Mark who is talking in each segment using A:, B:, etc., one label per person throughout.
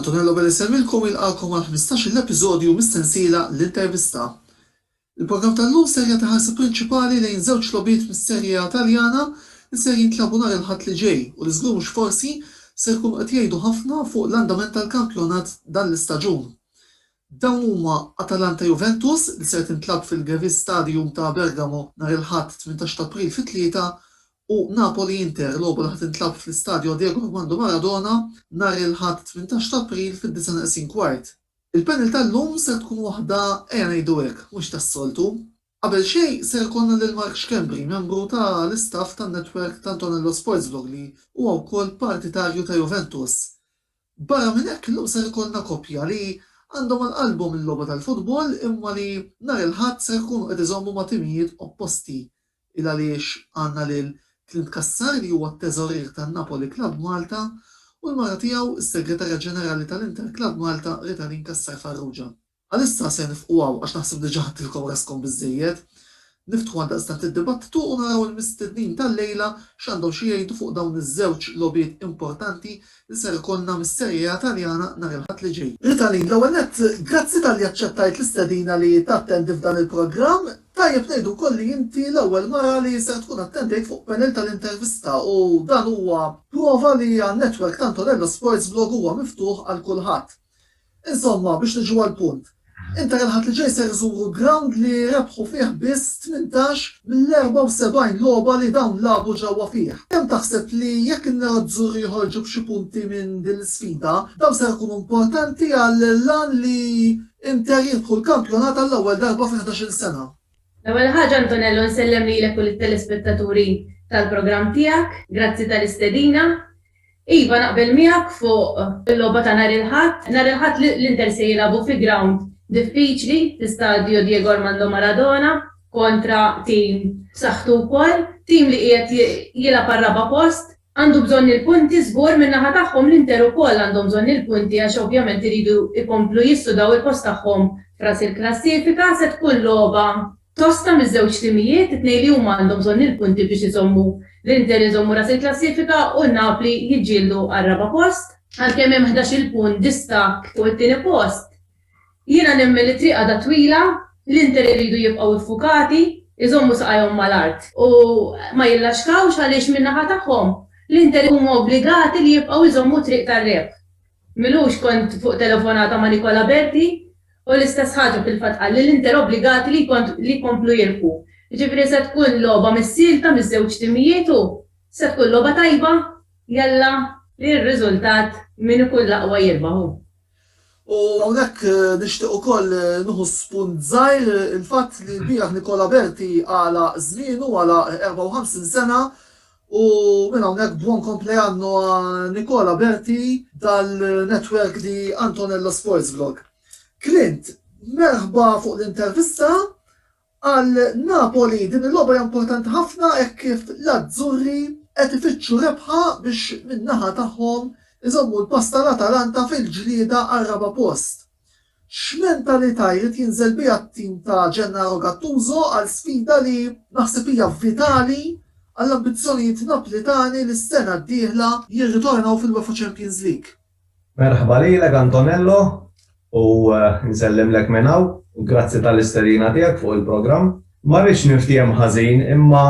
A: Antonello Belli Semmilkom jilqakom għal 15-il episodju mis-sensiela L-Intervista. Il-programm tal-lum ser jagħti ħarsa prinċipali lejn żewġ logħbiet mis-Serie A Taljana li ser jintlabu nhar il-Ħadd li ġej u li żgur mhux forsi ser jkunu qed jgħidu ħafna fuq l-andament tal-kampjonat dan l-istaġun. Dawn huma Atalanta Juventus li ser tintlagħab fil-Gewiss Stadium ta' Bergamo nhar il-Ħadd 18 ta' April fit-tlieta u Napoli Inter, logħba li ħa tintlagħab fl-Istadio Diego Armando Maradona nhar il-Ħadd 18 ta' April fid-disgħa neqsin kwart. Il-panel tal-lum ser tkun waħda ejja ngħidu hekk mhux tas-soltu. Qabel xejn ser ikollna lil Mark Schembri, membru ta' l-istaff tan-netwerk ta' Antonello Sportsblog li huwa wkoll partitarju ta' Juventus. Barra minn hekk illum ser ikollna koppja li għandhom għal qalbhom il-logħba tal-futbol imma li nhar il-Ħadd ser ikunu qed iżommu ma' timijiet opposti. Ilgħaliex għandna lil Clint Cassar li huwa t-teżorier tan-Napoli Club Malta u l-mara tiegħu, is-Segretarja Ġenerali ta' l-Inter Club Malta, Ritalin Cassar Farrugia. Għalissa se nifqu hawn għax naħseb diġa ħadtilkom raskom biżżejjed. Niftħu għaldaqstant id-dibattitu u naraw il-mistednin tal-lejla x'għandhom xi jgħidu fuq dawn iż-żewġ logħbiet importanti li ser ikollna mis-Serie A Taljana nhar il-Ħadd li ġej. Ritalin, l-ewwel nett, grazzi talli aċċettajt l-istedina li tattendi f'dan il-programm. Tajjeb ngħidu wkoll li inti l-ewwel mara li ser tkun attendejt fuq panel tal-intervista u dan huwa prova li għan-network Tantorello Sports Blog huwa miftuħ għal kulħadd. Insomma, biex niġu għall-punt, inter il-Ħadd li ġej ser iżuru ground li rebħu fih biss tmintax mill-74 logħba li dawn lagħbu ġewwa fih. Kemm taħseb li jekk in-nerazzurri joħorġu b'xi punti minn din l-isfida, dawn ser ikunu importanti għall-għan li Inter jirbħu l-kampjonat għall-ewwel darba fi ħdax-il sena? L-ewwel ħaġa
B: Antonello nsellem lilek u lit-telespettaturi tal-programm tiegħek. Grazzi tal-istedina. Iva naqbel miegħek fuq il-logħba ta' nhar il-Ħadd. Nhar il-Ħadd l-Inter se jilagħbu fi grawnd diffiċli fi Stadio Diego Armando Maradona kontra tim b'saħħtu wkoll, tim li qiegħed jilgħab għar-raba' post. għandu bżonn il-punti żgur min-naħa tagħhom l-Inter ukoll għandhom bżonn il-punti għax ovvjament iridu jkomplu jissudaw il-post tagħhom f'ras il-klassifika, se tkun logħba tosta miż-żewġ timijiet, it-tnejn li huma għandhom bżonn il-punti biex iżommu l-Inter iżommu ras il-klassifika u n-Napli jiġġieldu għar-raba' post. Għalkemm hemm ħdax-il punt distakk fuq it-tieni post, Jiena nemmen li t-triq għadha twila, l-Inter iridu jibqgħu ffukati, iżommu saqajhom mal-art. U ma jillaxkawx għaliex min-naħa tagħhom, l-Inter huma obbligati li jibqgħu jżommu t-triq tar-rebħ. M'ilux kont fuq telefonata ma' Nicola Berti u l-istess ħaġa fil-fatt qal li l-Inter obbligati li li jkomplu jirbħu. Jiġifieri se tkun logħba missielta miż-żewġ timijiet u se tkun logħba tajba, jalla, ir-riżultat min ikun l-aqwa jirbaħu. U
A: hawnhekk nixtieq ukoll nieħu spunt żgħir il-fatt li lbieraħ Nicola Berti għalaq żmienu, għalaq 54 sena, u minn hawnhekk buon compleanno a Nicola Berti dal-network di Antonello Sports Vlog. Clint, merħba fuq l-intervista Għal Napoli din il-logħba hija importanti ħafna hekk kif l-Azzurri qed ifittxu rebħa biex min-naħa tagħhom iżommu l-pass tal-Atalanta fil-ġlieda għar-raba' post. X'mentalità jrid jinżel biha t-tim ta' Gennaro Gattuso għal sfida li naħseb hija vitali għall-ambizzjonijiet Naplitani li s-sena d-dieħla jirritornaw fil-UEFA Champions League? Merħba lilek
C: Antonello u nsellimlek minn hawn u grazzi tal-istedina tiegħek fuq il-programm. Ma rridx niftiehem ħażin imma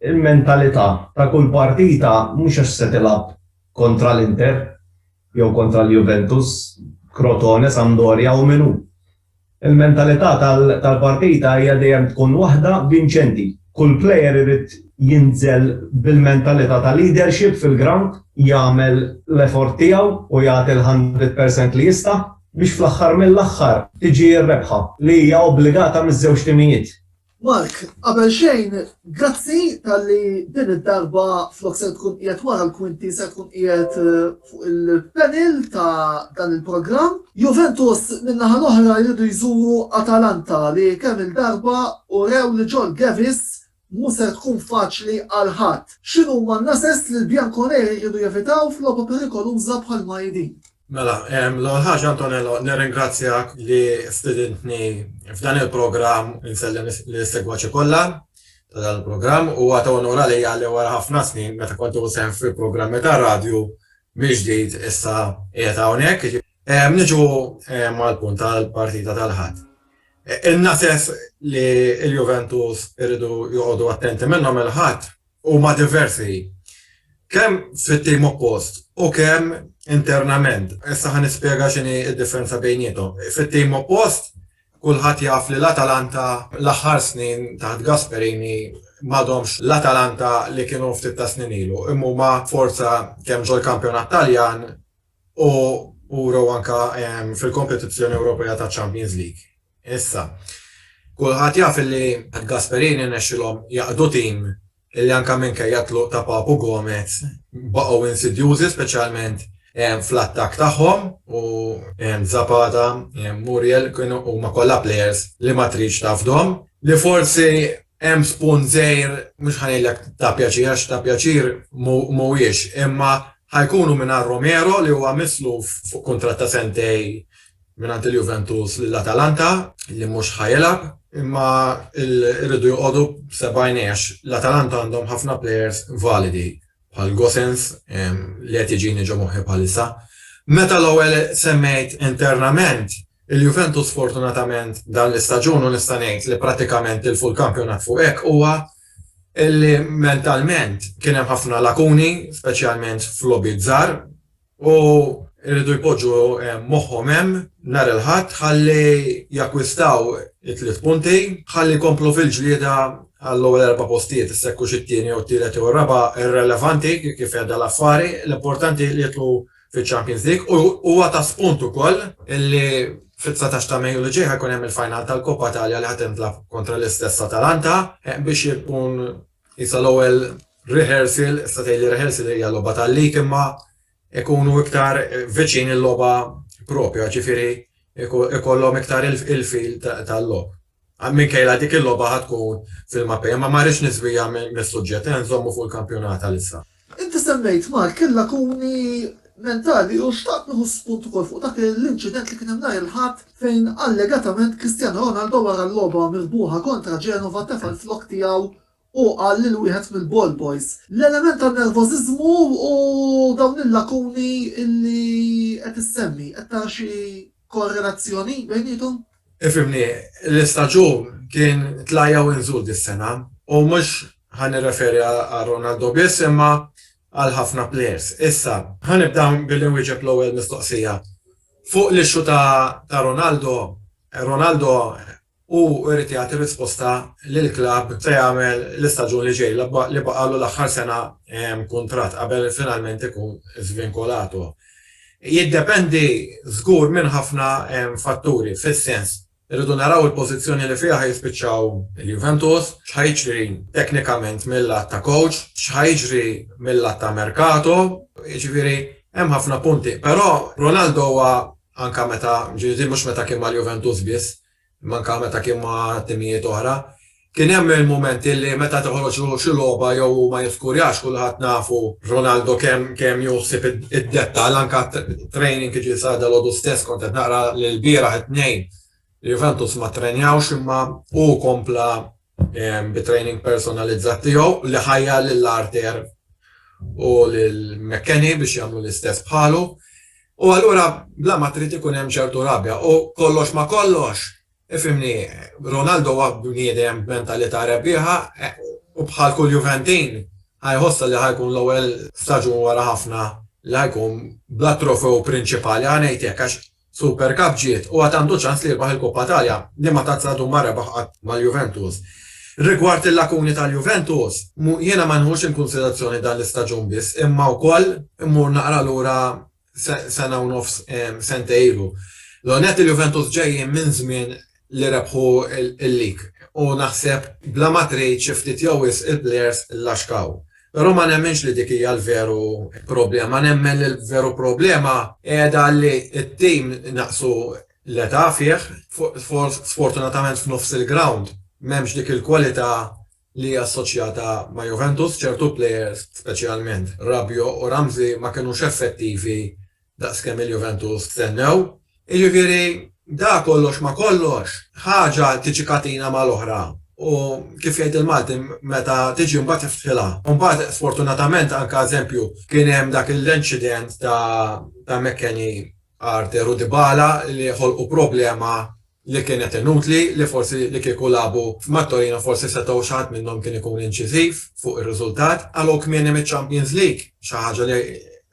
C: l-mentalità ta' kull partita mhux għax se tilgħab kontra l-Inter jew kontra l-Juventus, Crotone, Sampdoria u min hu. Il-mentalità tal-partita hija dejjem tkun waħda vinċenti. Kull player irid jinżel bil-mentalità ta' leadership fil-grawnd, jagħmel l-effort tiegħu u jagħti l-hundred percent li jista' biex fl-aħħar mill-aħħar tiġi r-rebħa li hija obbligata miż-żewġ timijiet. Mark,
A: qabel xejn, grazzi talli din id-darba flok ser tkun qiegħed wara l-kwinti ser tkun qiegħed fuq il-panel ta' dan il-programm. Juventus min-naħa l-oħra jridu jżuru Atalanta li kemm-il darba urew li ġol Gevis mhu ser tkun faċli għal ħadd. X'inhuma n-nases li l-Bianconeri jridu jevitaw f'logħba perikoluża bħal ma hi din? Mela,
D: l-ewwel ħaġa Antonello, nirringrazzjak li stidintni f'dan il-programm insellem lis-segwaċi kollha ta' dan il-programm. Huwa ta' unur għalija li wara ħafna snin meta kont nieħu sehem fi programmi tar-radju mill-ġdid issa qiegħed hawnhekk. Niġu mal-punt tal-partita tal-Ħadd. Ilna sess li l-Juventus iridu joqogħdu attenti minnhom il-Ħadd huma diversi kemm fit-tim oppost u kemm internament. Issa ħa nispjega x'inhi d-differenza bejniethom. Fit-tim oppost, kulħadd jaf li l-Atalanta l-aħħar snin taħt Gasperini m'għadhomx l-Atalanta li kienu ftit tas-snin ilu, imma huma forza kemm ġol-kampjonat Taljan u wrew anke fil-kompetizzjoni Ewropea taċ-Champions League. Issa, kulħadd jaf li Gasperini rnexxielhom jaqdu tim li anke minkejja t-tluq ta' Papu Gomez baqgħu insidjużi speċjalment fl-attakk tagħhom u Zapata, Muriel kienu huma kollha plejers li ma tridx tafdhom, li forsi Hemm spunt żgħir, mhux ħa ngħidlek ta' pjaċir għax ta' pjaċir mhuwiex, imma ħa jkunu mingħajr Romero li huwa misluf fuq kuntratt ta' sentejn mingħand il-Juventus lil Atalanta li mhux ħa jilgħab, imma rridu joqogħdu b'seba' għajnejn għax l-Atalanta għandhom ħafna plejers validi. bħal Gossens, li qed iġini ġo moħħi bħalissa. Meta l-ewwel semmejt internament, il-Juventus sfortunatament dan l-istaġun u nista' ngħid li prattikament tilfu l-kampjonat fuq hekk huwa li mentalment kien hemm ħafna lakuni, speċjalment f'logħbiet żgħar, U jridu jpoġġu moħħhom hemm nhar il-Ħadd ħalli jakkwistaw it-tliet punti, ħalli jkomplu fil-ġlieda għall-ewwel erba' postijiet, issa jekk hux it-tieni jew it-tielet jew ir-raba' irrelevanti kif qiegħda l-affari, l-importanti li jidħlu fiċ-Champions League u huwa ta' spunt ukoll li fit-dsatax ta' Mejju li ġej ħa jkun hemm il-final tal-Coppa Italia li ħa tintlagħab kontra l-istess Atalanta biex ikun Issa l-ewwel rehearsal, issa tgħid li rehearsal hija logħba tal-lig imma ikunu iktar viċin il-logħba propja, ġifieri ikollhom iktar il-fil tal-logħob. Minkejla dik il-logħba ħad tkun fil-mapej, imma ma rridx niżwija mis-suġġett, nżommu fuq il-kampjonat għalissa. Inti semmejt
A: Mark il-lakuni mentali u xtaqt nieħu spunt ukoll fuq dak l-inċident li kien hemm nhar il-Ħadd fejn allegatament Cristiano Ronaldo wara l-logħba mirbuħa kontra Genova tefa' l-flokk tiegħu u qal lil wieħed mill-ball boys. L-element ta' nervożiżmu u dawn il-lakuni li qed issemmi, qed tara xi korrelazzjoni bejniethom? Ifhimni,
D: l-istaġun kien tla' jew inżul dis-sena u mhux ħa nirreferi għal Ronaldo biss imma għal ħafna plejers. Issa, ħa nibda billi nwieġeb l-ewwel mistoqsija. Fuq l-issue ta' Ronaldo, Ronaldo hu jrid jagħti risposta lill-klabb se jagħmel l-istaġun li ġej li baqgħalu l-aħħar sena kuntratt qabel finalment ikun żvinkolato. Jiddependi żgur minn ħafna fatturi, fis-sens, irridu naraw il-pożizzjoni li fiha ħa jispiċċaw il-Juventus, x'ħa jiġri teknikament mil-lat ta' coach, x'ħa jiġri mil-lat ta' merkato, jiġifieri hemm ħafna punti. Però Ronaldo huwa, anke meta, jiġifieri din mhux meta kien mal-Juventus biss, Imma anke meta kien ma' timijiet oħra, kien hemm il-mumenti li meta toħroġ xi logħba jew hu ma jiskurjax, kulħadd nafu Ronaldo kemm kemm jieħu ħsieb id-dettall, anke t-training jiġifieri sar dalgħodu stess kont qed naqra li lbieraħ it-Tnejn Juventus ma ttrenjawx imma hu kompla bit-training personalizzat tiegħu li ħajjar lil Arthur u lil McKenny biex jagħmlu l-istess bħalu. U allura bla ma trid ikun hemm ċertu rabja u kollox ma kollox, ifhimni, Ronaldo huwa bniedem b'mentalità rebbieħa u bħal kull Juventin ħa jħossha li ħa jkun l-ewwel staġun wara ħafna li ħa jkun bla trofew prinċipali, ħa ngħid hekk, għax Super Cup ġiet u għad għandu ċans li jirbaħ il-Coppa Italia li ma tazzla dum ma rebaħ qatt mal-Juventus. Rigward il-lakuni tal-Juventus, jiena ma nieħux inkunsiderazzjoni dan l-istaġun biss imma wkoll immur naqra lura sena u nofs, sentejn ilu. L-ewwel nett il-Juventus ġejjin minn żmien li rebħu l-lig u naħseb bla ma trid xi ftit jew wisq il-plejers llaxkaw. Però ma nemminx li dik hija l-veru problema. Nemmen li l-veru problema qiegħda li t-tim naqqsu l-età fih, sfortunatament f'nofs il-grawnd m'hemmx dik il-kwalità li hija assoċjata ma' Juventus, ċertu plejers speċjalment Rabiot u Ramsey ma kinux effettivi daqs kemm il-Juventus stennew. Jiġifieri, dak kollox ma' kollox, ħaġa tiġi katina mal-oħra u, kif jgħid il-Malti, meta tiġi mbagħad iftħilha. U mbagħad, sfortunatament, anke eżempju, kien hemm dak l-incident ta' McKennie, Arthur u Dybala li ħolqu problema li kienet inutli, li forsi li kieku lagħbu ma' Torino forsi setgħu xi ħadd minnhom kien ikun inċiżiv fuq ir-riżultat, qalgħu kmieni miċ-Champions League, xi ħaġa li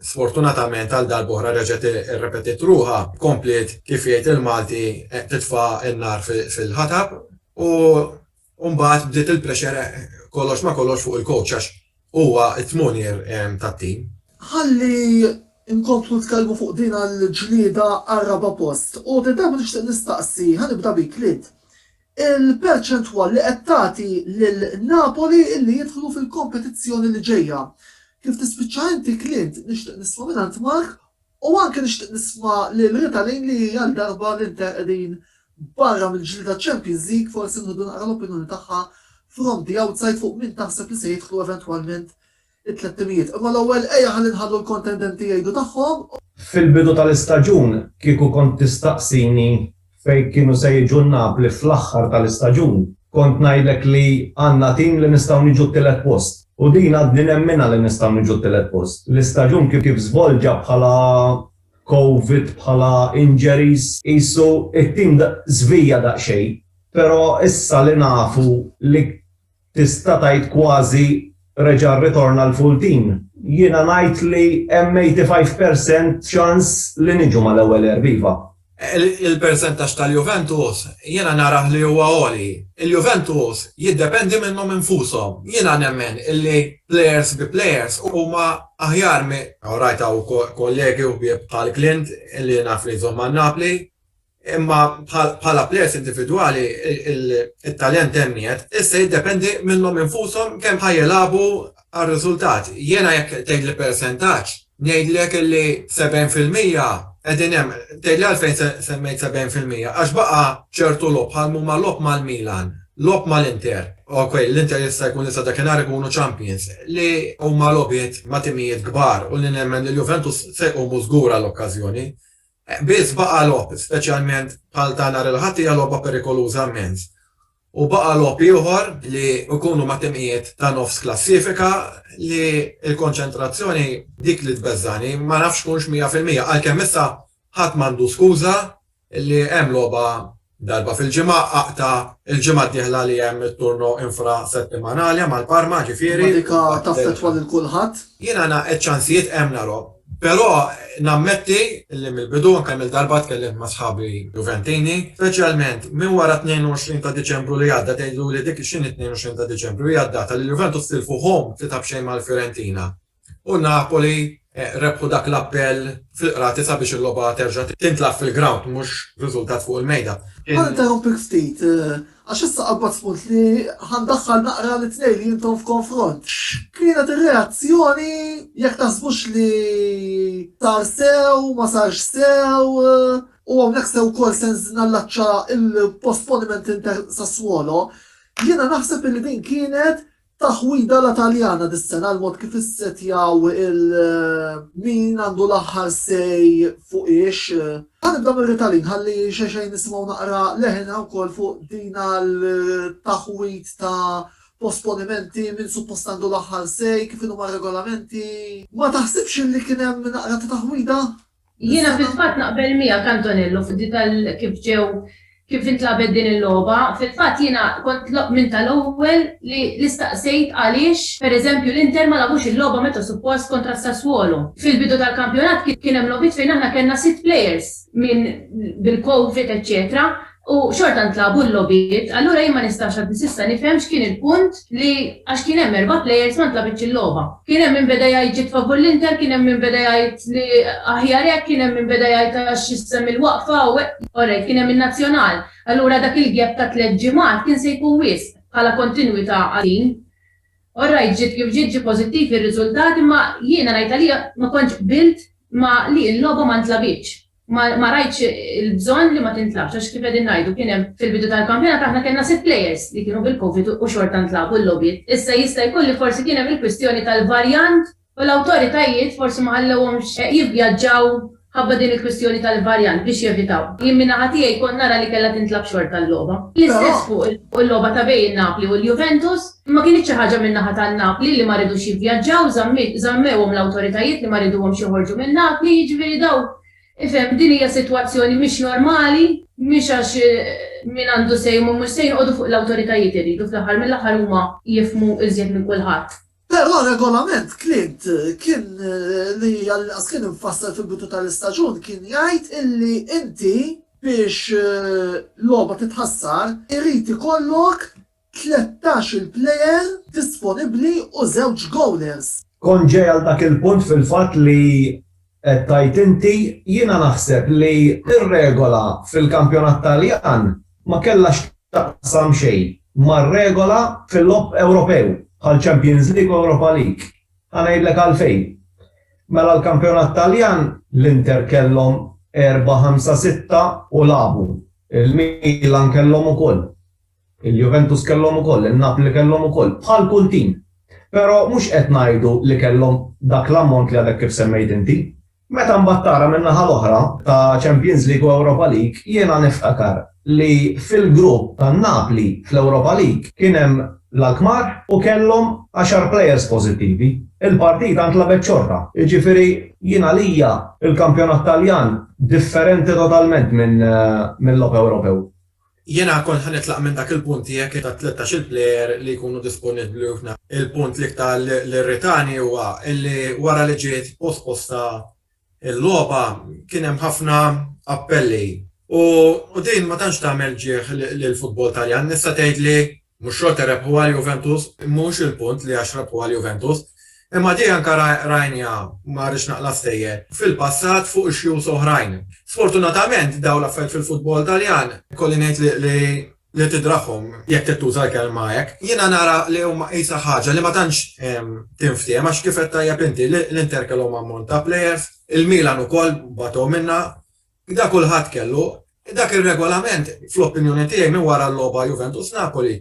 D: sfortunatament għal darb'oħra reġgħet irrepetiet ruħha, kompliet kif jgħid il-Malti titfa' n-nar fil-ħatab u U mbagħad bdiet il-pressure kollox ma' kollox fuq il-coach għax huwa t-tmonier tat-tim. Ħalli
A: nkomplu nitkellmu fuq din il-ġlieda għar-raba' post. U din darba nixtieq nistaqsi, ħa nibda bik Lid, il-perċentwal li qed tagħti lil Napoli li jidħlu fil-kompetizzjoni li ġejja. Kif tispiċċa inti Clint nixtieq nisma' mingħand Mark u anke nixtieq nisma' lil Rita Lane li għal darba l-Inter qegħdin Barra mill-ġlieda Champions League forsi nħodu naqra l-opinjoni tagħha from the outside fuq min taħseb li se jidħlu eventwalment it-tliet timijiet. Imma l-ewwel ejja ħalli nħallu l-kontendenti jgħidu tagħhom. Fil-bidu
C: tal-istaġun kieku kont tistaqsini fejn kienu se jiġu n-Napli fl-aħħar tal-istaġun kont ngħidlek li għandna tim li nistgħu niġu t-tielet post. U din għadni nemminha li nistgħu niġu t-tielet post. L-istaġun kif żvolġa bħala Covid bħala injuries. Qisu t-tim żvija daqsxejn, però issa li nafu li tista' tgħid kważi reġa' rritorna l-full team, jiena ngħid li hemm 85 percent ċans li niġu mal-ewwel erba' iva. Il-persentaġġ
D: tal-Juventus jiena narah li huwa għoli. Il-Juventus jiddependi minnhom infushom. Jiena nemmen illi players bi players huma Aħjar mi. Hawn rajt hawn kollegi u ħbieb bħal Clint li naf li jżomm għal Napli. Imma bħala plejers individwali it-talent hemm qiegħed, issa jiddependi minnhom infushom kemm ħa jilagħbu għar-riżultat. Jiena jekk tgħidli persentaġġ, ngħidlek li 70 fil-mija qegħdin hemm. Tgħidli għalfejn semmejt 70 fil-mija, għax baqa' ċertu logħob bħal m'huma logħob mal-Milan, Logħob mal-Inter, ok, l-Inter jista' jkun li sa dakinhar ikunu champions, li huma logħbiet ma' timijiet kbar u li nemmen li l-Juventus se jqumu żgur għall-okkażjoni. Biss baqa' logħob, speċjalment bħal ta' nhar il-Ħadd hija logħba perikoluża immens. U baqa' logħob ieħor li jkunu ma' timijiet ta' nofs klassifika li l-konċentrazzjoni dik li tbeżżagħni, ma nafx tkunx mija fil-mija, għalkemm issa ħadd m'għandu skuża li hemm logħba darba fil-ġimgħa, aqta' il-ġimgħa d-dieħla li hemm it-turno infrasettimanali mal Parma, ġifieri. Imma dik taffettwa
A: lil kulħadd? Jiena nagħqad ċ-ċansijiet
D: hemm nara, però nammetti li mill-bidu u kemm-il darba tkellimt ma' sħabi Juventini, speċjalment minn wara t-22 ta' Diċembru li għadda, tgħidluli dik x'inhi t-22 ta' Diċembru, hija d-data li l-Juventus tilfu home tlieta b'xejn mal-Fiorentina. u Napoli rebħu dak l-appell fil-Qrati sabiex il-logħba terġa' tintlagħab fil-grawnd mhux b'riżultat fuq il-mejda. Ħa ninterrompik
A: ftit, għax issa qabadt spunt li ħa ndaħħal naqra lit-tnejn li intom f'konfront. X'kienet ir-reazzjoni, jekk taħsbux li sar sew, ma sarx sew, u hawnhekk se wkoll se nallaċċa l-postponiment Inter-Sassuolo, jiena naħseb li din kienet Taħwida la Taljana dis-sena għal mod kif issettjaw il min għandu l-aħħar say fuq ix. Ħa nibda mir-Ritalin ħalli xejxejn nisimgħu naqra leħinha wkoll fuq din għal taħwid ta' posponimenti, min suppost għandu l-aħħar say, kif inhuma r-regolamenti. Ma taħsibx li kien hemm naqra ta' taħwida? Jiena fil-fatt
B: naqbel miegħek Antonello f'di tal kif ġew kif intlagħbet din il-logħba. Fil-fatt jiena kont minn tal-ewwel li li staqsejt għaliex, per eżempju, l-Inter ma lagħbux il-logħba meta suppost kontra s-Sassuolo. Fil-bidu tal-kampjonat kien hemm logħbiet fejn aħna kellna sitt players minn bil-Covid eċċetera. u xorta ntlagħbu l-logħbiet, allura jien ma nistax għadni s'issa nifhem x'kien il-punt li għax kien hemm erba' players ma ntlagħbitx il-logħba. Kien hemm min beda jgħid ġiet favur l-Inter, kien hemm min beda jgħid li aħjar hekk, kien hemm min beda jgħid għax issa mill-waqfa u hekk. Orrejt, kien hemm in-Nazzjonal, allura dak il-gap ta' tliet ġimgħat kien se jkun wisq bħala kontinwità għal din. Orrejt, ġiet kif ġiet, ġie pożittiv ir-riżultat imma jiena ngħid għalija ma kontx qbilt ma' li l-logħba ma ntlagħbitx. Ma ma rajtx il-bżonn li ma tintlagħabx għax kif qegħdin ngħidu kien hemm fil-bidu tal-kampjonat aħna kellna sitt players li kienu bil-Covid u xorta ntlagħbu l-logħbiet. Issa jista' jkun li forsi kien hemm il-kwistjoni tal-varjant u l-awtoritajiet forsi ma ħallewhomx jivvjaġġaw ħabba din il-kwistjoni tal-varjant biex jevitaw. Jien minn naħa tiegħi kont nara li kellha tintlagħab xorta l-logħba. L-istess fuq il-logħba ta' bejn Napli u l-Juventus. Imma kienet xi ħaġa minn naħa ta' Napli li ma ridux jivvjaġġaw, żammiet, żammewhom l-awtoritajiet li ma riduhomx joħorġu minn Napli, jiġifieri dawn, ifhem, din hija sitwazzjoni mhix normali, mhix għax min għandu say huma mhux say noqogħdu fuq l-awtoritajiet irridu fl-aħħar mill-aħħar huma jifhmu iżjed minn kulħadd. Però r-regolament
A: Clint kien li għall-inqas kien imfassal fil-bidu tal-istaġun kien jgħid illi inti biex logħba titħassar irid ikollok Tlettax-il plejer disponibbli u żewġ gowlers. Kont ġej għal dak
C: il-punt fil-fatt li qed tgħid inti. Jiena naħseb li r-regola fil-kampjonat Taljan ma kellha x'taqsam xejn mar-regola fil-logħob Ewropew bħal Champions League u Europa League. Ħa ngħidlek għalfejn. Mela l-kampjonat Taljan l-Inter kellhom erba' ħamsa sitta u lagħbu. Il-Milan kellhom ukoll. Il-Juventus kellhom ukoll, in-Napli kellhom ukoll, bħal kull tim. Però mhux qed ngħidu li kellhom dak l-ammont li għadek kif semmejt inti. Meta mbagħad tara min-naħa l-oħra, ta' Champions League u Europa League, jiena niftakar li fil-grupp tan-Napli fl-Europa League kien hemm l-Alkmaar u kellhom għaxar plejers pożittivi. Il-partita ntlagħbet xorta. Jiġifieri jien għalija l-kampjonat Taljan differenti totalment minn logħob Ewropew. Jiena kont
D: ħa nitlaq minn dak il-punt tiegħek li ta' tlettax-il plejer li jkunu disponibbli u f'na. Il-punt l-iktar li rritani huwa li wara li ġiet posposta l-logħba kien hemm ħafna appelli u din ma tantx tagħmel ġieħ lill-futbol Taljan. Nista' tgħid li Mhux xorta rebħu għal Juventus, mhux il-punt li għax rebħu għal Juventus, imma di anka rajnija, ma rridx naqla' s-sejjer, fil-passat fuq issues oħrajn. Sfortunatament dawn l-affarijiet fil-futbol Taljan ikolli ngħid li tidraħħhom, jekk trid tuża l-kelma hekk. Jiena nara li huma qisha ħaġa li ma tantx tinftiehem għax kif għedt tajjeb inti, l-Inter kellhom ammont ta' players, il-Milan ukoll bagħtu minnha, Qda kulħadd kellu. Dak ir-regolament, fl-opinjoni tiegħi, minn wara l-logħba Juventus-Napoli,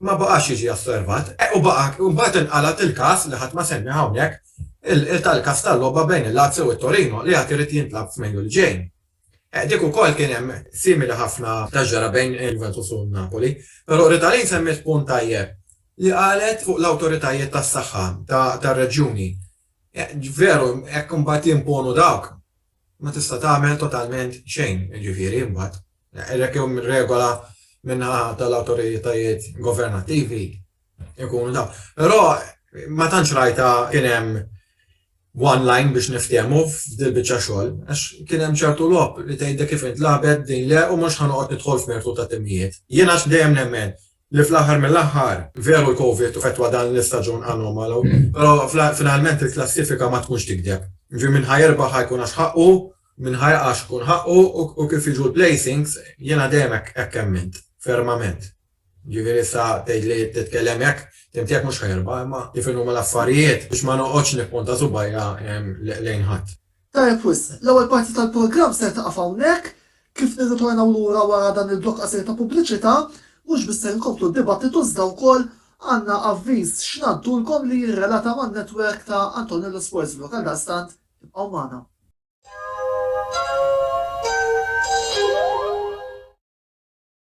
D: ma baqax jiġi osservat. E u baqa', u mbagħad inqalgħet il-każ, li ħadd ma semmieh hawnhekk, tal-każ tal-logħba bejn il-Lazio u t-Torino, li għad irid jintlagħab f'Mejju li ġej. E dik ukoll kien hemm simili ħafna ta' ġara bejn il-Juventus u n-Napoli. Però Ritalin semmiet punt tajjeb li qalet fuq l-awtoritajiet tas-saħħa tar-reġjuni. Veru, hekk imbagħad jimponu dawk. ma tista' tagħmel totalment xejn, jiġifieri imbagħad, hekk jew mir-regola min-naħa tal-awtoritajiet governattivi jkunu dawn. Però ma tantx rajtha kien hemm one line biex niftehmu f'dil-biċċa xogħol, għax kien hemm ċertu logħob li tgħidlek kif intlagħbet din le u mhux ħa noqgħod nidħol f'mertu ta' timijiet. Jien għax dejjem nemmen li fl-aħħar mill-aħħar, veru l-Covid fetwa dan l-istaġun anomalu, però finalment il-klassifika ma tkunx tikdeb. Jiġifieri min ħa jirbaħ ħa jkun għax ħaqqu, min ħa jaqa' għax ikun ħaqqu u kif jiġu l-placings jiena dejjem hekk emmint, fermament. Jiġifieri issa tgħidli titkellem hekk, tim tiegħek mhux ħa jirbaħ imma kif inhuma l-affarijiet biex ma noqgħodx nippunta subgħajja lejn ħadd. Tajjeb wisq,
A: l-ewwel parti tal-programm ser tieqaf hawnhekk. Kif nirritornaw lura wara dan il-blokk qasir ta' pubbliċità, mhux biss ser inkomplu d-dibattitu iżda wkoll għandna avviż x'ngħaddulkom li jirrelata man-network ta' Antonello Sportsbook. Għaldaqstant, ibqgħu magħna.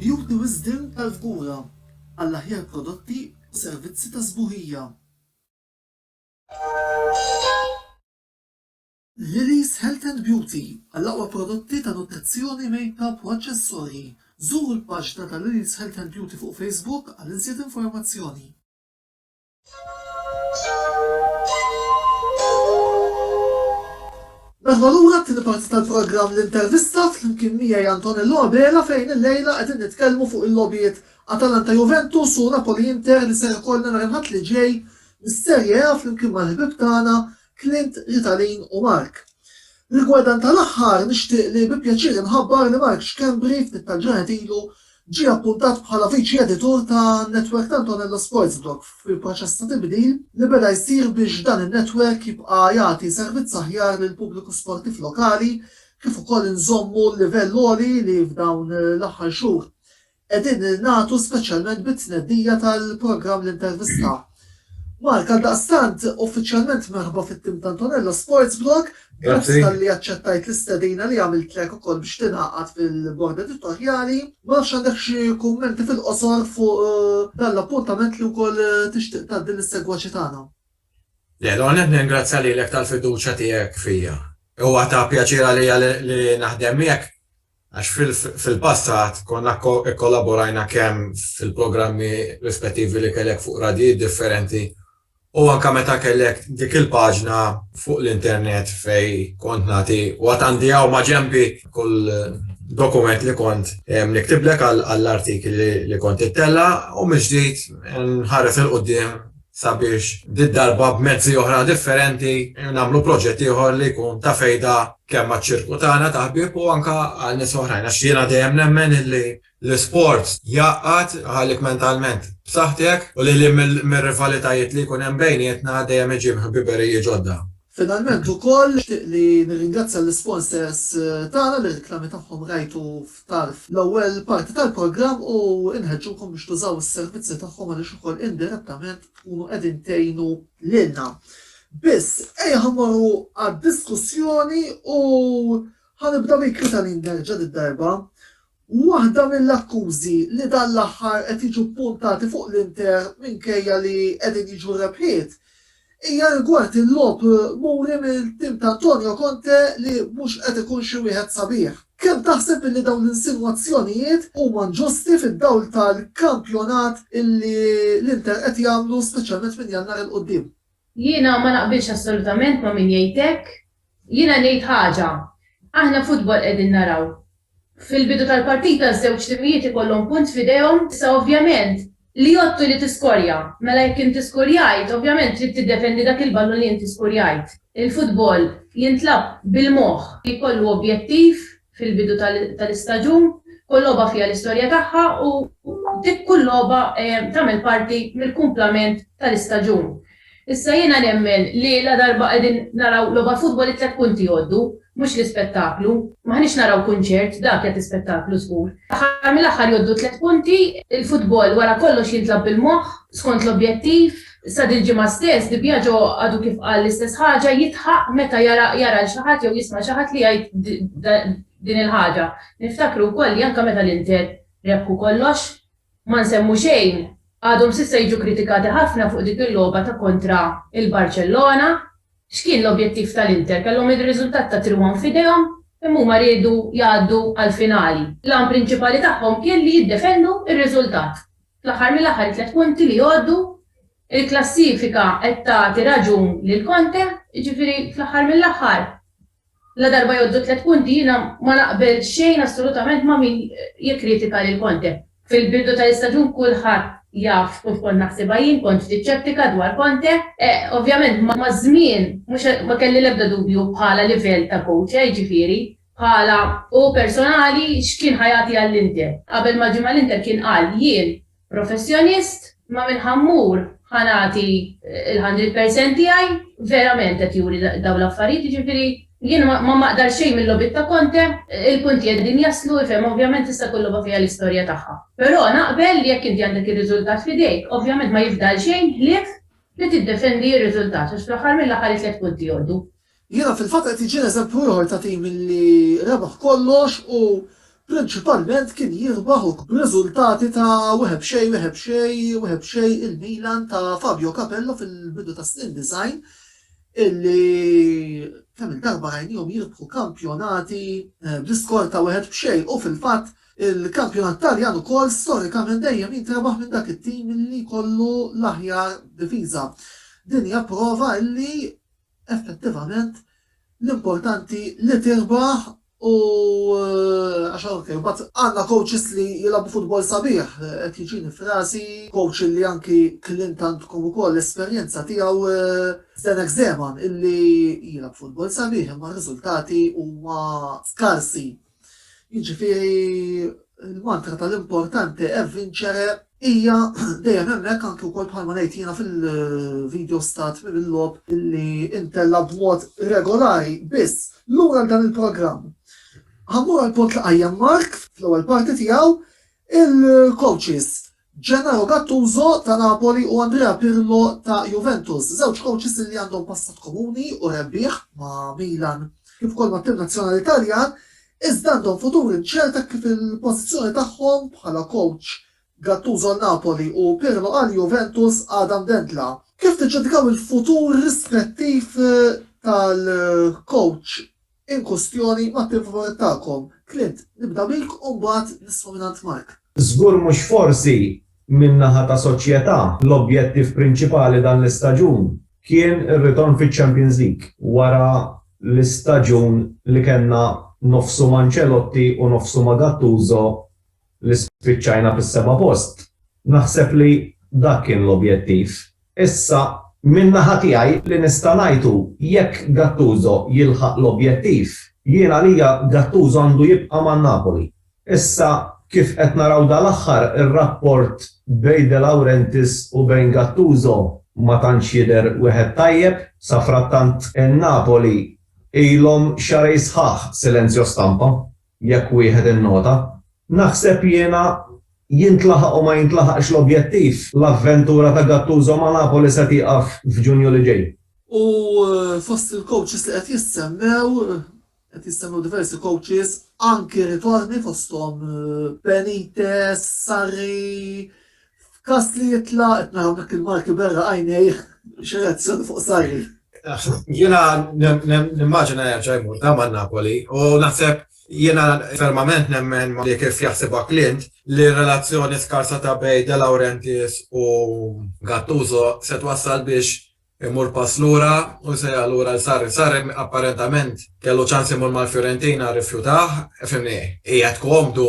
A: Juri wisdien tal-fgura għall-aħjar prodotti u servizzi ta' sbuħija. Lily's Health and Beauty għall-aqwa prodotti ta' nutrizzjoni, makeup u aċċessorji. Żuru l-paġna ta' Lily's Health and Beauty fuq Facebook għal iżjed informazzjoni. Merħba lura għat-tieni parti tal-programm L-Intervista flimkien miegħi Antonello Abela fejn illejla qegħdin nitkellmu fuq il-logħbiet Atalanta-Juventus u Napoli-Inter li ser ikollna nhar il-Ħadd li ġej mis-Serie A flimkien mal-ħbieb tagħna Clint, Ritalin u Mark. Rigward dan tal-aħħar, nixtieq li bi pjaċir inħabbar li Mark Schembri ftit tal-ġranet ilu ġie appuntat bħala Viċi Editur ta' netwerk t'Antonello Sportsblog fil-proċess ta' tibdil li beda jsir biex dan in-netwerk jibqa' jagħti servizz aħjar lill-pubbliku sportiv lokali kif ukoll inżommu l-livell għoli li f'dawn l-aħħar xhur Qegħdin ningħatu speċjalment bit-tnedija tal-programm L-Intervista. Mark, għaldaqstant, uffiċjalment merħba fit-tim ta' Antonello Sports Blog, grazzi talli aċċettajt l-istedina li għamiltlek ukoll biex tingħaqad fil-bord editorjali. Ma nafx għandek xi kummenti fil-qosor fuq eh, dan l-appuntament li wkoll eh, tixtieq tgħaddi lis-segwaċi tagħna. Le,
D: l-għonet ningrazzja lilek tal-fiduċja tiegħek fija. Huwa ta' pjaċir għalija li naħdem miegħek Għax fil-passat konna kkollaborajna kemm fil-programmi rispettivi li kellek fuq radjijiet differenti u anke meta kellek dik il-paġna fuq l-internet fejn kont nagħti u għad għandi hawn maġenbi kull dokument li kont niktiblek għall-artikli li kont ittella' u mill-ġdid nħares 'il quddiem sabiex did-darba b'mezzi oħra differenti nagħmlu proġett ieħor li jkun ta' fejda kemm għaċ-ċirku tagħna ta' ħbieb u anke għal nies oħrajn għax jiena dejjem nemmen illi l-isport jgħaqqad iħallek mentalment b'saħħtek u lil hinn mir-rivalitajiet li jkun hemm bejnietna dejjem iġib ħbiberiji ġodda. Finalment ukoll
A: nixtieq li nirringrazzja lis-sponsors tagħna li r-reklami tagħhom rajtu f'tarf l-ewwel parti tal-programm u nħeġġukom biex tużaw is-servizzi tagħhom għaliex ukoll indirettament tkunu qegħdin tgħinu lilna. Biss, ejja ħa mmorru għad-diskussjoni u ħa nibda bik Ritalin Gerġa did-darba Waħda mill-akkużi li dan l-aħħar qed jiġu ppuntati fuq l-Inter minkejja li qegħdin jiġu r-rebħiet hija rigward il-logħob muri mill-tim ta' Antonio Conte li mhux qed ikun xi wieħed sabiħ. Kemm taħseb illi dawn l-insinwazzjonijiet huma nġusti fid-dawl tal-kampjonat illi l-Inter qed jagħmlu speċjalment minn Jannar 'il quddiem? Jiena ma
B: naqbilx assolutament ma' min jgħid hekk. Jiena ngħid ħaġa, aħna futbol qegħdin naraw. Fil-bidu tal-partita ż-żewġ timijiet ikollhom punt f'idejhom, issa ovvjament li jgħodd u li tiskorja. Mela jekk inti skurjajt, ovvjament trid tiddefendi dak il-ballun li inti skurjajt. Il-futbol jintlagħab bil-moħħ, jkollu objettiv. fil-bidu tal-istaġun, kull logħba fiha l-istorja tagħha u dik kull logħba tagħmel parti mill-kumplament tal-istaġun. Issa jiena nemmen li ladarba qegħdin naraw logħba futbol it-tliet punti jgħoddu, mhux l-ispettaklu. M'aħniex naraw kunċert, dak jagħti spettaklu żgur. Fl-aħħar mill-aħħar jgħoddu t-tliet punti, il-futbol wara kollox jintlagħab bil-moħħ, skont l-objettiv, Sa dil-ġimgħa stess, Di Biagio għadu kif qal l-istess ħaġa, jidħaq meta jara jara lil xi ħadd jew jisma' xi ħadd li jgħid din il-ħaġa. Niftakru wkoll li anke meta l-Inter rebħu kollox, ma nsemmu xejn, għadhom s'issa jiġu kritikati ħafna fuq dik il-logħba ta' kontra il-Barċellona. X'kien l-objettiv tal-Inter? Kellhom ir-riżultat ta' 3-1 f'idejhom, imma huma riedu jgħaddu għall-finali. L-għan prinċipali tagħhom kien li jiddefendu r-riżultat. Fl-aħħar mill-aħħar it-tliet punti li jgħoddu, il-klassifika qed tagħti raġun lil Conte, jiġifieri fl-aħħar mill-aħħar ladarba jgħoddu t-tliet punti jiena ma naqbel xejn assolutament ma' min jikkritika lil Conte. Fil-bidu tal-istaġun kulħadd jaf x'kont kont naħsibha jien, kont ftit xettika dwar Conte. Ovvjament maż-żmien mhux ma kelli l-ebda dubju bħala livell ta' coach, jiġifieri Bħala hu personali, x'kien ħa jagħti għall-Inter? Qabel ma ġie mal-Inter kien qal, Jien professjonist, ma minn ħa mmur ħa nagħti l-hundred percent tiegħi, verament qed juri dawn l-affarijiet, jiġifieri jien ma maqdar xejn mil-logħbiet ta' Conte, il-punti qegħdin jaslu, ifhem, ovvjament tista' jkun logħba fiha l-istorja tagħha. Però naqbel li jekk inti għandek ir-riżultat f'idejk, ovvjament ma jifdal xejn ħlief li tiddefendi r-riżultat għax fl-aħħar mill-aħħar it-tliet punti jgħoddu. Jiena
A: fil-fatt qed iġinn eżempju ieħor ta' tim li rebaħ kollox u prinċipalment kien jirbaħ u. B'riżultati ta' wieħed b'xejn, wieħed b'xejn, wieħed b'xejn il-Milan ta' Fabio Capello fil-bidu tas-snin disgħin illi kemm-il darba rajniehom jirbħu kampjonati bl-iskor ta' wieħed b'xejn u fil-fatt il-kampjonat Taljan ukoll storikament dejjem jintrebaħ minn dak it-tim illi jkollu l-aħjar difiża. Din hija prova illi Effettivament, l-importanti li tirbaħ u għax hawn kif. Imbagħad għandna coaches li jilagħbu futbol sabiħ, qed jiġini f'rasi coach illi anki klient għandkom ukoll l-esperjenza tiegħu Zdenek Zeman illi jilgħab futbol sabiħ imma r-riżultati huma skarsi. Jiġifieri l-mantra tal-importanti è vincere hija dejjem hemmhekk anke wkoll bħalma ngħid jiena fil-video stat mill-logħob li intella b'mod regolari biss lura dan il-programm. Ħammur għal punt li qajjem Mark fl-ewwel parti tiegħu il-coaches Gennaro Gattuso ta' Napoli u Andrea Pirlo ta' Juventus, żewġ kowċis li għandhom passat komuni u rebbieħ ma' Milan kif ukoll mat-tim nazzjonali Taljan, iżda għandhom futur inċert hekk kif il-pożizzjoni tagħhom bħala kowċ, Gattuso għal Napoli u Pirlo għal Juventus, għadha mdendla. Kif tiġġudikaw il-futur rispettiv tal-kowċ? inkwistjoni ma' tim favorit tagħkom. Clint, nibda bik u mbagħad nisma' mingħand Mark. Żgur mhux
C: forsi min-naħa ta' Soċjetà l-objettiv prinċipali dan l-istaġun kien ir-ritorn fiċ-Champions League wara l-istaġun li kellna nofsu ma' Ancelotti u nofsu ma' Gattuso li spiċċajna fis-seba' post. Naħseb li dak kien l-objettiv. Issa, min-naħa tiegħi, li nista' ngħid hu, jekk Gattuso jilħaq l-objettiv, jien għalija Gattuso għandu jibqa' ma' Napoli. Issa, kif qed naraw dal-aħħar, ir-rapport bejn De Laurentiis u bejn Gattuso ma tantx jidher wieħed tajjeb. Safrattant, in-Napoli ilhom xahrejn sħaħ silenzjo stampa. Jekk wieħed innota, naħseb jiena, jintlaħaq u ma jintlaħaqx l-objettiv, l-avventura ta' Gattuso ma' Napoli se tieqaf f'Ġunju li ġej. U
A: fost il-coaches li qed jissemmew, qed jissemmew diversi coaches, anki ritorni fosthom Benitez, Sarri, F'każ li jitla' qed naraw dak il-Malti b'għera għajnejh xi reazzjoni fuq Sarri. Jiena
D: nimmaġina jerġa' jmur ta' man-Napoli u naħseb jiena fermament nemmen li kif jaħsibha Clint li r-relazzjoni skarsa ta' bejn De Laurentiis u Gattuso se twassal biex Imur pass lura u jsejjaħ lura 'l Sarri. Sarri apparentament kellu ċans imur mal-Fiorentina rrifjutah, fimni, qiegħed komdu,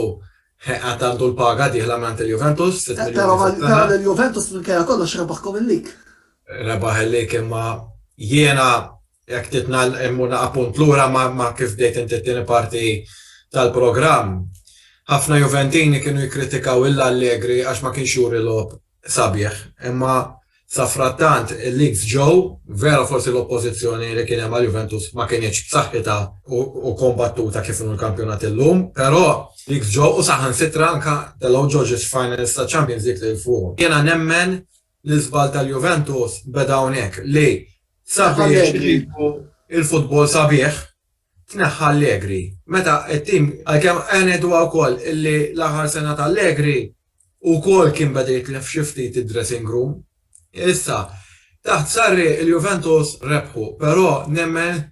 D: għad għandu l-paga dieħla mingħand il-Juventus, sitt miljuni fis-sena. Qed tara li
A: l-Juventus minkejja kollox rebaħkom il-lig. Rebaħ il-lig
D: imma jiena jekk titna immur naqa' punt lura ma' kif bdejt inti t-tieni parti tal-programm. Ħafna Juventini kienu jikkritikaw 'l Allegri għax ma kienx juri logħob Sabiħ, imma safrattant il-leaks ġew, vera forsi l-oppożizzjoni li kien hemm għal Juventus ma kinitx b'saħħitha u kombattuta kif inhu l-kampjonat illum, però leaks ġew u saħansitra anke telgħu ġoġis finals ta' Champions League lil fuqhom. Jiena nemmen li l-żball tal-Juventus beda hawnhekk li sabiex iġibu l-futbol sabiħ, tneħħa Allegri meta t-tim, għalkemm ngħiduha wkoll li l-aħħar sena ta' Allegri wkoll kien beda jitlef xi ftit id-dressing room. Issa, taħt Sarri il-Juventus rebħu, però nemmen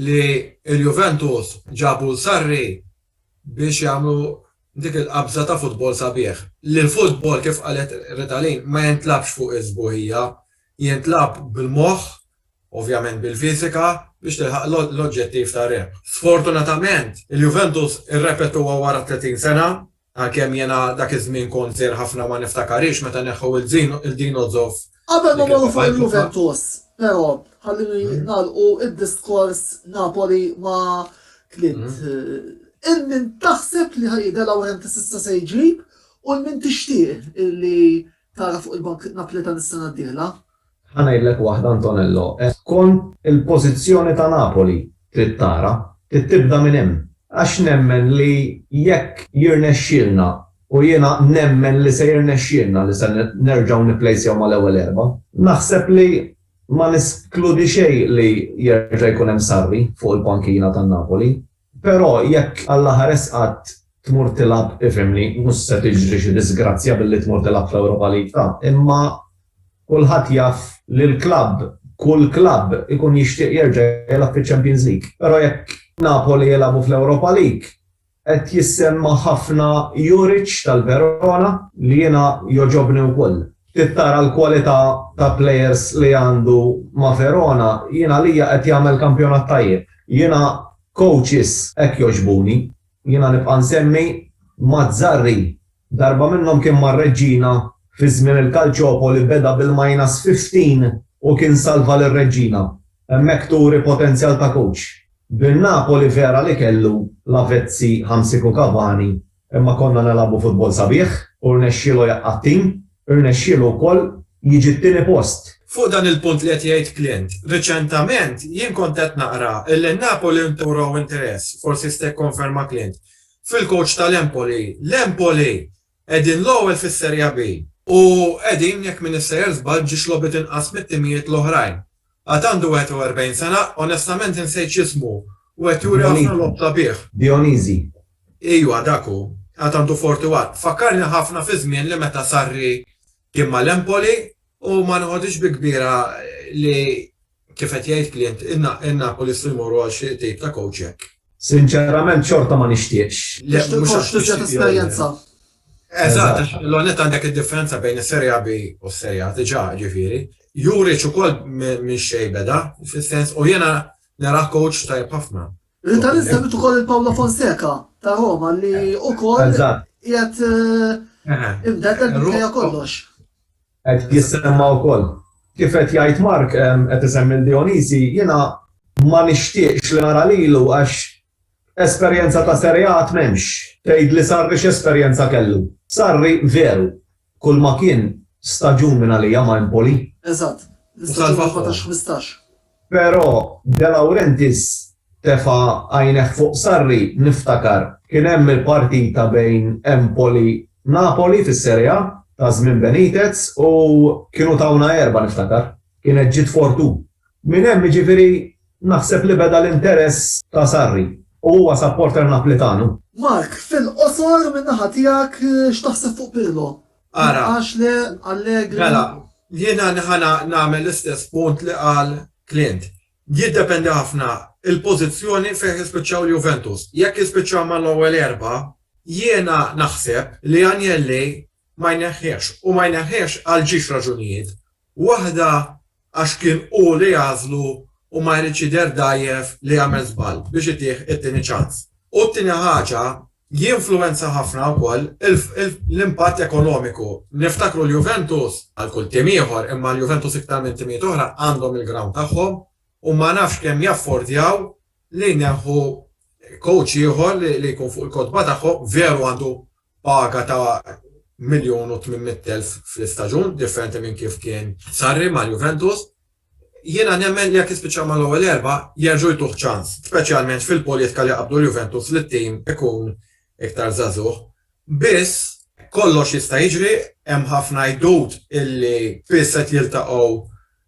D: li l-Juventus ġabu 'l Sarri biex jagħmlu dik il-qabża ta' futbol sabiħ. Li l-futbol, kif qalet Ritalin, ma jintlabx fuq is-sbuħija, jintlagħab bil-moħħ ovvjament bil-fiżika, biex tilħaq l-oġġettiv ta' rebħ. Sfortunatament, il-Juventus irrepetuha wara 30 sena, għalkemm jiena dak iż-żmien kont żgħir ħafna ma niftakarhiex meta neħħew il Dinozov. Qabel ma mmorru fuq
A: il-Juventus, però, ħalluni nagħlqu d-diskors Napoli ma' Clint. Hemm min taħseb li ħa De Laurentiis issa se jġib u hemm min tixtieq li tara fuq il-bank Naplitan is-sena d-dieħla? Ħa ngħidlek
C: waħda Antonello, qed tkun il-pożizzjoni ta' Napoli trid tara, trid tibda minn hemm. Għax nemmen li jekk jirnexxielna, u jiena nemmen li se jirnexxielna li se nerġgħu nipplejsjaw mal-ewwel erba', naħseb li ma neskludi xejn li jerġa' jkun hemm Sarri fuq il-pankina ta' Napoli. Però jekk Alla ħares qatt tmur tilgħab ifhimni, mhux se tiġri xi disgrazzja billi tmur tilgħab fl-Europa League ta' imma kulħadd jaf li l-klabb, kull klabb ikun jixtieq jerġa' jilgħab fiċ-Champions League. Però jekk Napoli jilgħabu fl-Europa League qed jissemma ħafna Juric tal-Verona li jiena jogħġobni wkoll. Trid tara l-kwalità ta' players li għandu ma' Verona, jien għalija qed jagħmel kampjonat tajjeb. Jiena coaches hekk jogħġbuni. Jiena nibqa' nsemmi Mazzarri. Darba minnhom kien mar-Reggina fi żmien il-Calciopoli beda bil-minus 15 u kien salva lir-Reggina. Hemmhekk turi potenzjal ta' coach. Bin-Napoli vera li kellu Lavezzi, Hamsik u Cavani Imma konna nilagħbu futbol sabiħ u rnexxielu jaqqa' t-tim, irnexxielu wkoll jiġi t-tieni post. Fuq dan il-punt li
D: qed jgħid Clint, riċentament jien kont qed naqra illi Napoli nturaw interess, forsi jista' jikkonferma Clint, fil-coach tal-Empoli. L-Empoli qegħdin l-ewwel fis-Seria B. U qegħdin, jekk m'iniex sejjer żball, ġiex logħbiet inqas mit-timijiet l-oħrajn. Għad għandu 41 sena, onestament insejt x'ismu, u qed juri ħafna logħob sabiħ. Dionisi.
C: Ejwa,
D: dak hu. Għad għandu 41. Fakkarni ħafna fiż-żmien li meta Sarri kien mal-Empoli u ma noħodhiex bi kbira li, kif qed jgħid Clint, in-Napolisti jmorru għal xi tip ta' kowċ hekk. Sinċerament
C: xorta ma nixtieqx. Le, mhux għax tixtieq jew le.
A: Tixtieq esperjenza. Eżatt,
D: l-ewwel nett għandek id-differenza bejn is-Serie A B u s-Serie A diġà, ġifieri. Juric ukoll minn xejn beda, fis-sens u jiena narah coach tajjeb ħafna. Inta nistemmit
A: ukoll il-Paolo Fonseca ta' Roma li ukoll qiegħed imdeddet minkejja kollox. Qed
C: jissemma wkoll. Kif qed jgħid Mark qed isemmi l-Dionisi, jiena ma nixtieqx li nara lilu għax Esperjenza ta' Sereat m'hemmx. Tgħid li Sarri x'esperjenza kellu. Sarri, veru, kulma kien, staġun minn għalija ma' Empoli. Eżatt,
A: l-istaġun 14-15. Però
C: De Laurentiis tefa' għajnejh fuq Sarri, niftakar, kien hemm il-partita bejn Empoli, Napoli fis-Sere'a ta' żmien Benitez u kienu tawna erbgħa niftakar. Kienet ġiet fortuna. Minn hemm jiġifieri. Naħseb li beda l-interess ta' Sarri u huwa supporter Naplitanu. Mark,
A: fil-qosor minn naħa tiegħek x'taħseb fuq Pirlo? Ara. Għax le Allegri? Mela,
D: jiena ħa nagħmel l-istess punt li qal Clint. Jiddependi ħafna l-pożizzjoni fejn jispiċċaw l-Juventus. Jekk jispiċċaw mal-ewwel erbgħa, jiena naħseb li Agnelli ma jneħħihiex u ma jneħħihiex għal ġiex raġunijiet, waħda għax kien hu li għażlu u ma jridx jidher dgħajjef li għamel żball biex itih it-tieni ċans, u t-tieni ħaġa jinfluwenza ħafna wkoll l-impatt ekonomiku. Niftakru l-Juventus, bħal kull tim ieħor, imma l-Juventus iktar minn timijiet oħra għandhom il-ground tagħhom u ma nafx kemm jaffordjaw li jneħħu coach ieħor li jkun fuq il-kotba tagħhom, veru għandu Paga ta' miljun u tmien mitt elf fl-istaġun, differenti minn kif kien Sarri mal-Juventus. Jiena nemmen li jekk jispiċċa mal-ewwel erbgħa, jerġgħu jtuh ċans, speċjalment fil-politika li jqabbdu l-Juventus li t-tim ikun iktar żagħżugħ. Biss, kollox jista' jiġri, hemm ħafna għidut illi spiss qed jiltaqgħu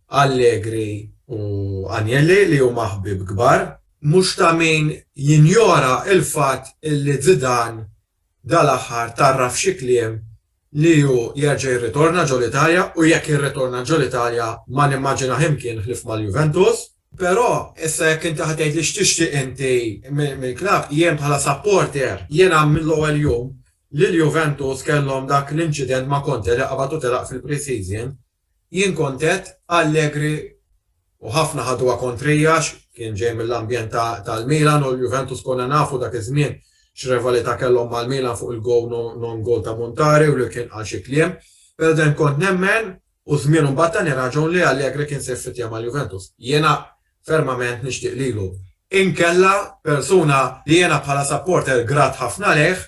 D: Allegri u Agnelli li huma ħbieb kbar. Mhux ta' min jinjora l-fatt li Zidane dal-aħħar tgħarraf f'xi kliem li hu jerġa' jirritorna ġol-Italja u jekk jirritorna ġol-Italja ma nimmaġinah imkien ħlief mal-Juventus. Però, issa jekk inti ħa tgħidli x'tixtieq inti mill-klabb, jien bħala supporter, jiena mill-ewwel jum li l-Juventus kellhom dak l-inċident ma' Conte li qabad u telaq fil-pre-season, Jien kont għedt Allegri u ħafna ħaduha kontrija għax kien ġej mill-ambjent tal-Milan u l-Juventus konna nafu dak iż-żmien x'rivalità kellhom mal-Milan fuq il-goal non goal ta' Montari u lil kien qal xi kliem. Però dejjem kont nemmen u żmienu mbagħad tani raġun li Allegri kien se jffittja mal-Juventus. Jiena fermament nixtieq lilu. Inkella persuna li jiena bħala supporter grat ħafna lejh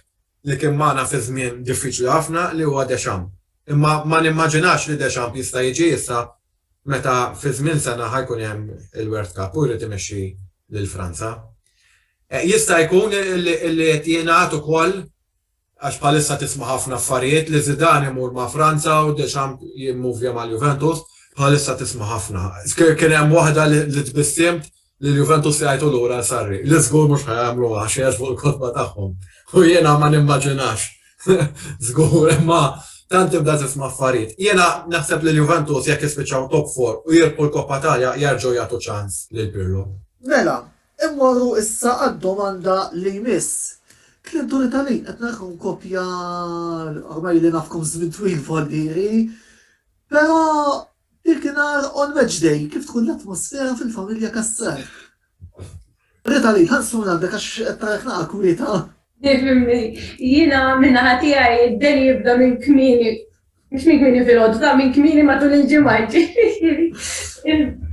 D: li kien magħna fi żmien diffiċli ħafna li huwa Deschamps. Imma ma nimmaġinax li Deschamps jista' jiġi issa meta fi żmien sena ħa jkun hemm il-World Cup u jrid imexxi lil Franza. Jista' jkun li qed jingħad ukoll għax bħalissa tisma' ħafna affarijiet li Zidane imur ma' Franza u Deschamps jimmuvja mal-Juventus, bħalissa tisma' ħafna. Kien hemm waħda li tbissiemt lil Juventus li jgħajtu lura għal Sarri, li żgur mhux ħa jagħmluha għax jgħeġbu l-kotba tagħhom. U jiena ma nimmaġinax. Żgur, imma tant tibda tisma' affarijiet. Jiena naħseb li l-Juventus jekk jispiċċaw top 4 u jirbħu l-Koppa Italja jerġgħu jagħtu ċans lil Pirlo. Mela,
A: immorru issa għad-domanda li jmiss. Kliem Tony Talin, qed narakom kopja ormai li nafkom żmien twil voldieri, però Dakinhar on match day kif tkun l-atmosfera fil-familja Cassar? Rita Lee, tant sfond għandek għax qed narak naqa' kwieta. Tifhimni,
B: jiena min-naħa tiegħi d-deli jibda minn kmieni, mhux minn kmieni filgħodu, minn kmieni matul il-ġimgħa, jiġifieri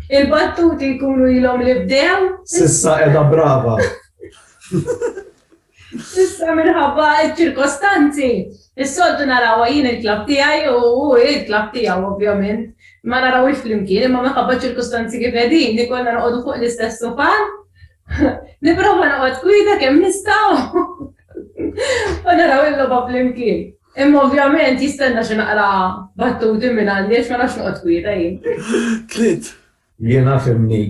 B: il-battuti jkunu ilhom li bdew. S'issa qiegħda
C: brava.
B: Issa minħabba ċ-ċirkostanzi, is-soltu narawha jien il-klabb tiegħi u hu l-klabb tiegħu ovvjament, ma narawhiex flimkien, imma minħabba ċ-ċirkustanzi kif qegħdin, ikollna noqogħdu fuq l-istess sufan, nipprova noqgħod kwieta kemm nista' u naraw il-logħba flimkien. Imma ovvjament jistenna xi naqra battuti minn għandi għax ma nafx noqgħod kwieta jien. Tliet
A: Jiena
C: fhimni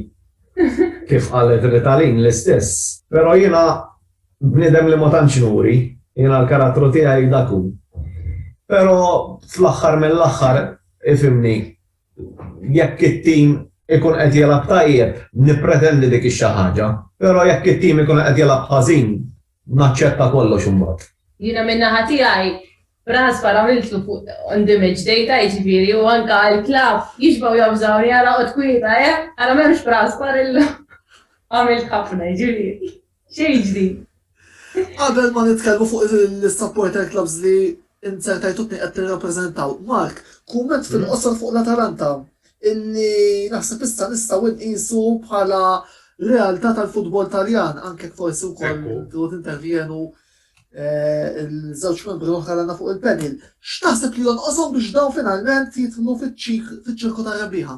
C: kif qalet Ritalin l-istess. Pero jiena bniedem li ma tantx nuri, jiena l-karattru tiegħi dak hu. Pero fl-aħħar mill-aħħar ifhimni jekk it-tim ikun qed jilgħab tajjeb nippretendi dik ix-xi ħaġa, pero jekk it-tim ikun qed jilgħab ħażin Naċċetta kollox imbagħad. Jiena min-naħa
B: tiegħi b'ras barra miltu fuq on the match data jiġifieri u anke l-klabb jixbgħu jobżgħuni ara qgħod kwieta eh! Ara m'hemmx b'ras bar illum. Għamilt ħafna jiġifieri xejn ġdid. Qabel
A: ma nitkellmu fuq l-isupporter clubs li Inser tajtutni qed tirrappreżentaw. Mark, kumment fil-qosor fuq l-Atalanta, illi naħseb issa nistgħu nqisu bħala realtà tal-futbol Taljan, anke jekk forsi wkoll trid tintervjenu l-żewġ membri l-oħra għandna fuq il-panel. X'taħseb li jonqoshom biex dawn finalment jidħlu fiċ-ċirku tar-rebbieħa?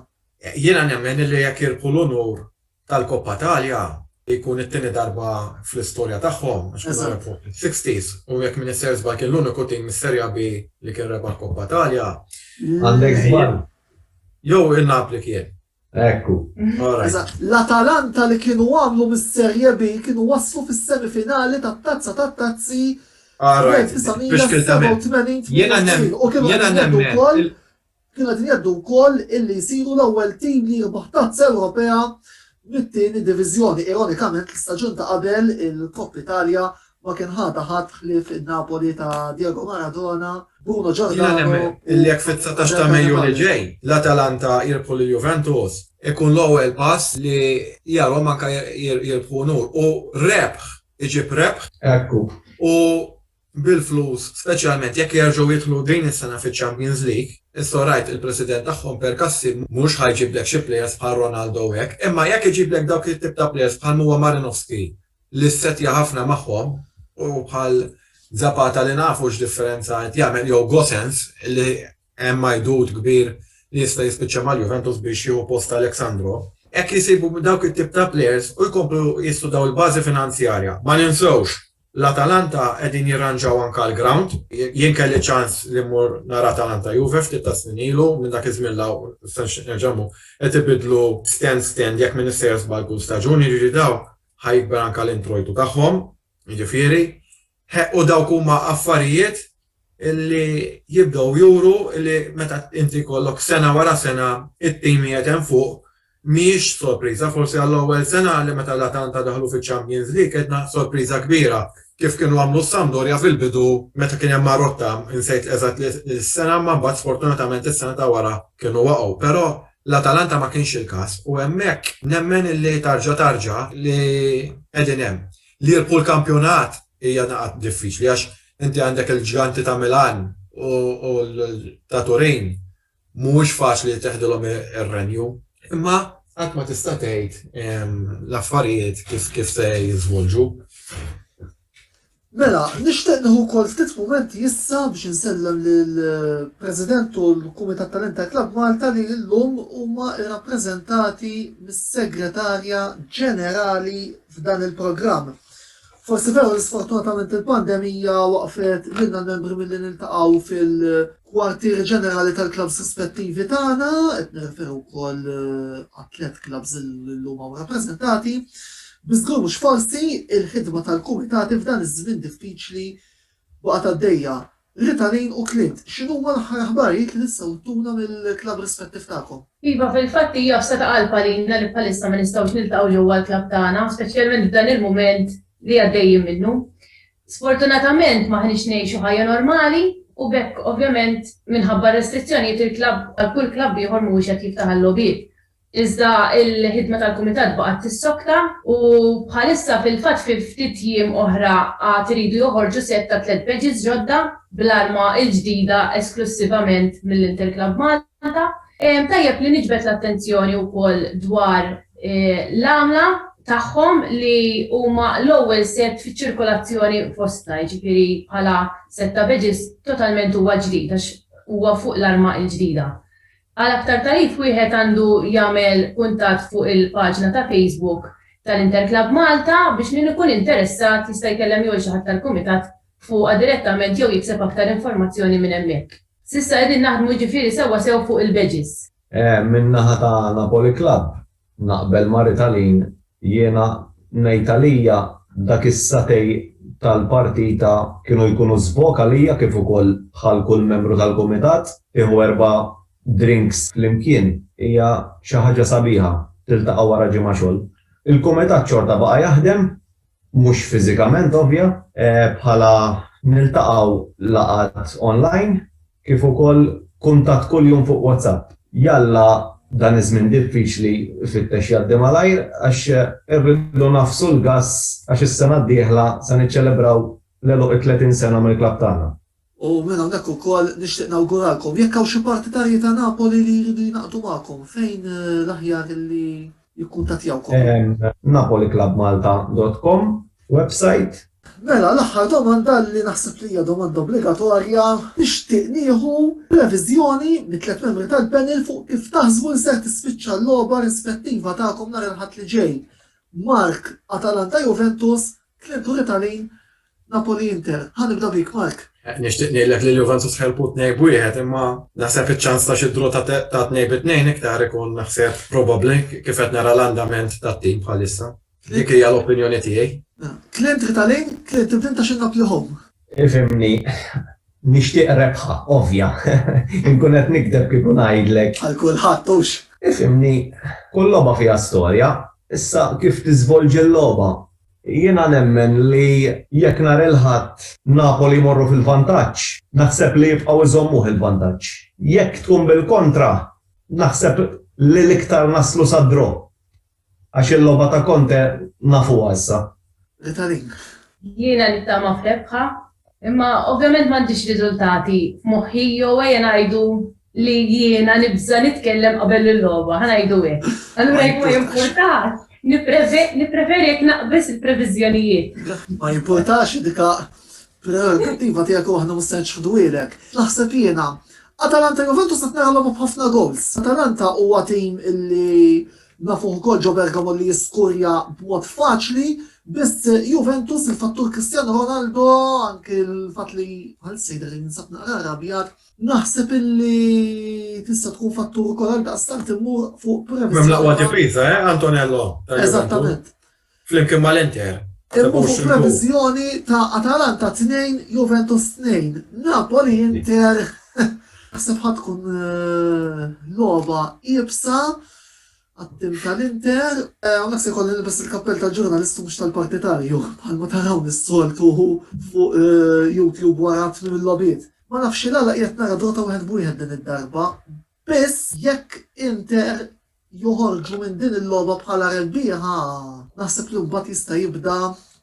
A: Jiena nemmen
D: li jekk jirbħu l-unur tal-Coppa Italia jkun it-tieni darba fl-istorja tagħhom għax kienu rebħuh fis-sixties u jekk m'iniex ser żball kien l-uniku tim mis-Seria B li kien rebaħ Coppa Italia. Għandek
C: żball. Jew
D: in-Napli kien. Ekku.
C: Eżatt.
A: L-Atalanta li kienu għamlu mis-Serie B kienu waslu fis-semifinali tat-Tazza tat-Tazzi fl-1987, 88 u kienu qed
D: jgħidu wkoll.
A: Kienu qegħdin jgħeddu wkoll illi jsiru l-ewwel tim li jirbaħ Tazza Ewropea mit-tieni diviżjoni. Ironikament l-istaġun ta' qabel il-Coppa Italia ma kien ħadha ħadd ħlief in-Napoli ta' Diego Maradona, Bruno Giordano u Andrea Cavalli. Jiena nemmen illi jekk fit-dsatax
D: ta' Mejju li ġej l-Atalanta jirbħu lil Juventus ikun l-ewwel pass li jarhom anke jirbħu unur u rebħ iġib rebħ. Hekk hu. U bil-flus, speċjalment jekk jerġgħu jidħlu din is-sena fiċ-Champions League, issa rajt il-President tagħhom Percassi mhux ħa jġiblek xi players bħal Ronaldo u hekk, imma jekk iġiblek dawk it-tip ta' players bħal m'huwa Marinovski li ssettja ħafna magħhom u bħal Zapata li nafu x'differenza qed jagħmel jew Gosens li Hemm għajdut kbir li jista' jispiċċa mal-Juventus biex jieħu post Alex Sandro. Hekk jsibu dawk it-tip ta' plejers u jkomplu jistudaw il-bażi finanzjarja. Ma ninsewx, l-Atalanta qegħdin jirranġaw anke l-grawnd. Jien kelli ċans li mmur nara Atalanta Juve ftit tas-snin ilu, minn dak iż-żmien 'l hawn stenx nerġa' mmur. Qed ibidlu stand stand jekk m'iniex sejjer żball kull staġun, jiġifieri dawn ħa jikber anke l-introjtu tagħhom, jiġifieri. Ħe, u dawk huma affarijiet li jibdew juru li meta inti jkollok sena wara sena t-tim qiegħed hemm fuq, mhijiex sorpriża. Forsi għall-ewwel sena li meta l-Atalanta daħlu fiċ-Champions League għedna sorpriża kbira, kif kienu għamlu s-Sampdoria fil-bidu meta kien hemm Marotta, insejt eżatt is-sena, imma mbagħad sfortunatament is-sena ta' wara kienu waqgħu. Però l-Atalanta ma kienx il-każ u hemmhekk nemmen li tarġa' tarġa' li qegħdin hemm. Li jirbħu l-kampjonat hija daqqa diffiċli għax inti għandek il-ġganti ta' Milan u ta' Turin. Mhuwiex faċli li teħdilhom ir-renju. Imma qatt ma tista' tgħid l-affarijiet kif se jiżvolġu.
A: Mela, nixtieq nieħu wkoll ftit mumenti issa biex insellem lill-President u l-Kumitat tal-Interclub Malta li llum huma rrappreżentati mis-Segretarja Ġenerali f'dan il-programm. Forsi veru li sfortunatament il-pandemija waqfet lilna l-membri milli niltaqgħu fil-kwartieri ġenerali tal-klabs rispettivi tagħna, qed nirreferu wkoll eh, għat-tliet klabs illum hawn rappreżentati. Biżgur mhux forsi il-ħidma tal-kumitati f'dan iż-żmien diffiċli Baqgħet għaddejja, Ritalin u Clint, x'inhuma l-aħħar aħbarijiet li tistgħu ttuna mill-klabb rispettiv tagħkom? Iva, fil-fatt hija
B: fsa ta' qalb għalina li bħalissa ma nistgħux niltaqgħu ġewwa l-klabb tagħna, speċjalment f'dan il-mument li għaddejjin minnu. Sfortunatament m'aħniex ngħixu ħajja normali u b'hekk ovvjament minħabba r-restrizzjonijiet il-klabb bħal kull klabb ieħor mhuwiex qed jiftaħ għal-logħbiet. Iżda l-ħidma tal-Kumitat baqgħet tissokta u bħalissa fil-fatt fi ftit jiem oħra għad iridu joħorġu sett ta' tliet badges ġodda bl-arma l-ġdida esklussivament mill-Inter Club Malta. Tajjeb li niġbed l-attenzjoni wkoll dwar l-għamla tagħhom li huma l-ewwel sett fiċ-ċirkolazzjoni fostna, jiġifieri bħala sett ta' badges totalment huwa ġdid għax huwa fuq l-arma l-ġdida. Għal aktar tagħrif wieħed għandu jagħmel kuntatt fuq il-paġna ta' Facebook tal-Interclub Malta biex min ikun interessat jista' jkellem jew il-xi ħadd tal-Kumitat fuqha direttament jew jikseb aktar informazzjoni minn hemmhekk. S'issa qegħdin naħdmu jiġifieri sewwa sew fuq il-badges. Min-naħa
C: ta' Napoli Club, Naqbel ma' Ritalin, jiena ngħid għalija dak is-satej tal-partita kienu jkunu żbok għalija kif ukoll bħal kull membru tal-kumitat, tieħu erba' drinks flimkien hija xi ħaġa sabiħa, tiltaqa' wara ġimgħa xogħol. Il-kumitat xorta baqa' jaħdem mhux fiżikament ovvja, bħala niltaqgħu laqgħat online kif ukoll kuntatt kuljum fuq WhatsApp. Jalla dan iż-żmien diffiċli ifittex jgħaddi malajr għax irridu ngħaffsu l-gass għax is-sena d-dieħla se niċċelebraw l-għeluq it-30 sena mill-klabb tagħna. U minn hawnhekk
A: ukoll nixtieq nawguralkom, jekk hawn xi partitarji ta' Napoli li jridu jingħaqdu magħkom, fejn l-aħjar li jikkuntattjawkom? Napoliclubmalta.com website. Mela, l-aħħar domanda li naħseb li hija domanda obbligatorja, nixtieq nieħu previżjoni mit-tliet membri tal-panel fuq kif taħsbu li ser tispiċċa l-logħba rispettiva tagħkom nhar il-Ħadd li ġej, Mark, Atalanta-Juventus, Tliet Britani, Napoli Inter, ħa nibda bik Mark. Nixtieq ngħidlek li
D: l-Juventus ħelbu tnejn b'wieħed imma naħseb iċ-ċans ta' xi draw ta' tnejn bi tnejn iktar ikun naħseb probabbli kif qed nara l-andament tat-tim bħalissa. Dik hija l-opinjoni tiegħi. Clint
A: Ritalin, Clint inti intax in-Napli home. Ifhimni,
C: nixtieq rebħa ovvja. Inkun qed nikdeb kieku ngħidlek. Għal kulħadd hux.
A: Ifhimni,
C: kull logħba fiha storja, issa kif tiżvolġi l-logħba Jiena nemmen li jekk nhar il-Ħadd Napoli jmorru fil-vantaġġ, naħseb li jibqgħu jżommuh il-vantaġġ. Jekk tkun bil-kontra, naħseb li l-iktar naslu sa draw. Għax il-logħba ta' Conte nafuha issa. L-Italin.
A: Jiena
B: nittama f'rebħa, imma ovvjament m'għandix riżultati f'moħħi jew ejja ngħidu li jiena nibża' nitkellem qabel il-logħba, ħa ngħidu hekk. Allura jekk ma jimpurtax, nippreferi jekk naqbeż il-previżjonijiet. Ma jimpurtax
A: dika prerogattiva tiegħek u aħna mhux se nċħduhielek. Naħseb jiena, Atalanta Juventus qed nara logħba b'ħafna gowls. Atalanta huwa tim li nafuh ukoll ġo Bergamo li jiskurja b'mod faċli, biss Juventus il-fattur Cristiano Ronaldo anke l-fatt li għal sejda li ninsab naqra rabjat Naħseb illi tista' tkun fattur ukoll għal daqstant immur fuq premessa. Mem l-aqwa difiża, eh,
D: Antonello? Eżattament.
A: Flimkien
D: mal-Inter. Immu fuq
A: previżjoni ta' Atalanta 2, Juventus 2, Napoli Inter. Naħseb ħad tkun eh, logħba iebsa. Għat-tim tal-Inter, hawnhekk se jkolli nilbes il-kappell tal-ġurnalist u mhux tal-partitarju, bħalma tarawni s-soltu fuq YouTube wara tmiem il-logħbiet. Ma nafx x'għala qiegħed nara Dota wieħed b'wieħed din id-darba, biss jekk Inter joħorġu minn din il-logħba bħala rebbieħa, naħseb li mbagħad jista' jibda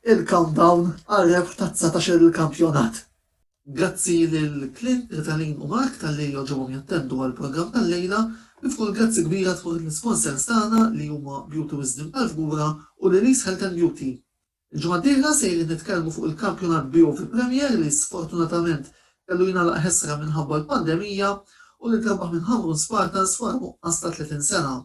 A: il-countdown għar-rebħ tat-dsatax-il kampjonat. Grazzi lil Clint, Ritalin u Mark talli għoġobhom jattendu għall-programm tal-lejla. Kif ukoll grazzi kbira tmur lill-isponsers tagħna li huma Beauty Wisdom tal-Fgura u Lily's Health and Beauty. Il-ġimgħa d-dieħla sejrin nitkellmu fuq il-kampjonat Beauty Premier li sfortunatament kellu jingħalaq ħesra minħabba l-pandemija u li ntrebaħ minn Ħamrun Spartans wara nuqqas ta' 30 sena.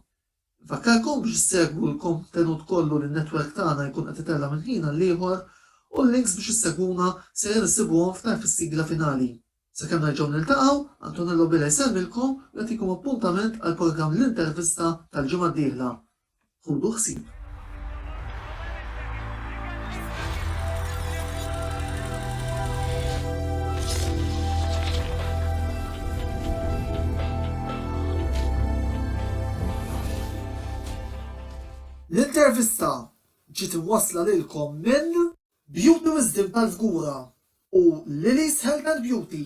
A: Infakkarkom biex issegwu l-kontenut kollu li n-netwerk tagħna jkun qed itella' minn ħin għall-ieħor u l-links biex issegwuna sejjer issibuhom f'tarf is-sigla finali. Sakemm nerġgħu niltaqgħu, Antonello Bela jsellmilkom u jagħtikom appuntament għall-programm L-Intervista tal-ġimgħa d-dieħla. Ħudu ħsieb. L-intervista ġiet imwassla lilkom minn Beauty Wisdom tal-Fgura u Lily's Health and Beauty.